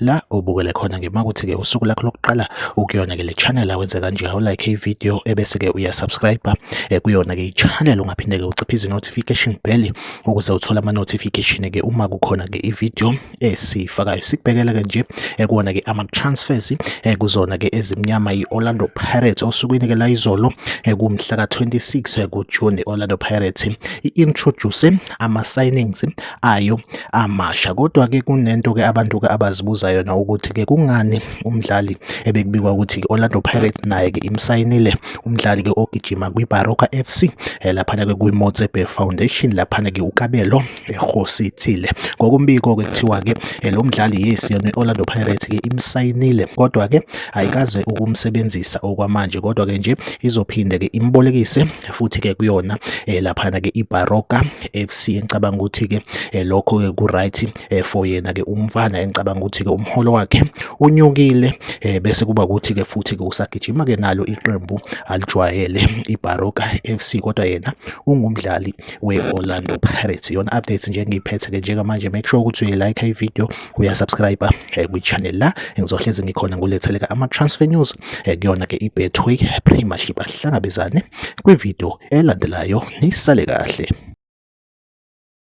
la ubukele khona ke makuthi ke usuku lakho lokuqala ukuyona ke le channel awenze kanje how like i video ebese ke uya subscribe eh, kuyona ke i channel ungaphinde ke uciphe izi notification bell ukuze uthole ama notification ke uma kukhona ke i video esifakayo sikubhekela ke nje eh, kuona ke ama transfers eh, kuzona ke ezimnyama i Orlando Pirates osukwini ke la izolo kumhla ka 26 ku June Orlando Pirates i introduce ama signings ayo amasha kodwa ke kunento ke abantu ke abazibuza yona ukuthi ke kungani umdlali ebekubikwa ukuthi ke Orlando Pirates naye ke imsayinile umdlali ke ogijima kwiBaroka FC eh, laphana ke kwiMotsepe Foundation laphana ke uKabelo ehosithile ngokumbiko ke kuthiwa ke eh, lo mdlali yes yona Orlando Pirates ke imsayinile kodwa ke ayikaze ukumsebenzisa okwamanje kodwa ke nje izophinde ke imbolekise futhi ke kuyona eh, laphana ke iBaroka FC engicabanga ukuthi ke eh, lokho ke ku right eh, for yena ke umfana engicabanga ukuthi ke umholo wakhe unyukile bese kuba ukuthi ke futhi ke usagijima ke nalo iqembu alijwayele iBaroka FC kodwa yena ungumdlali weOrlando Pirates yona updates nje ngiyiphethe ke njengamanje make sure ukuthi uyi like ivideo uyasubscribe eh, kwi-channel la ngizohlezi ngikhona nguletheleka ama-transfer news eh, kuyona ke i-betway premiership ahlangabezane kwividiyo elandelayo nisale kahle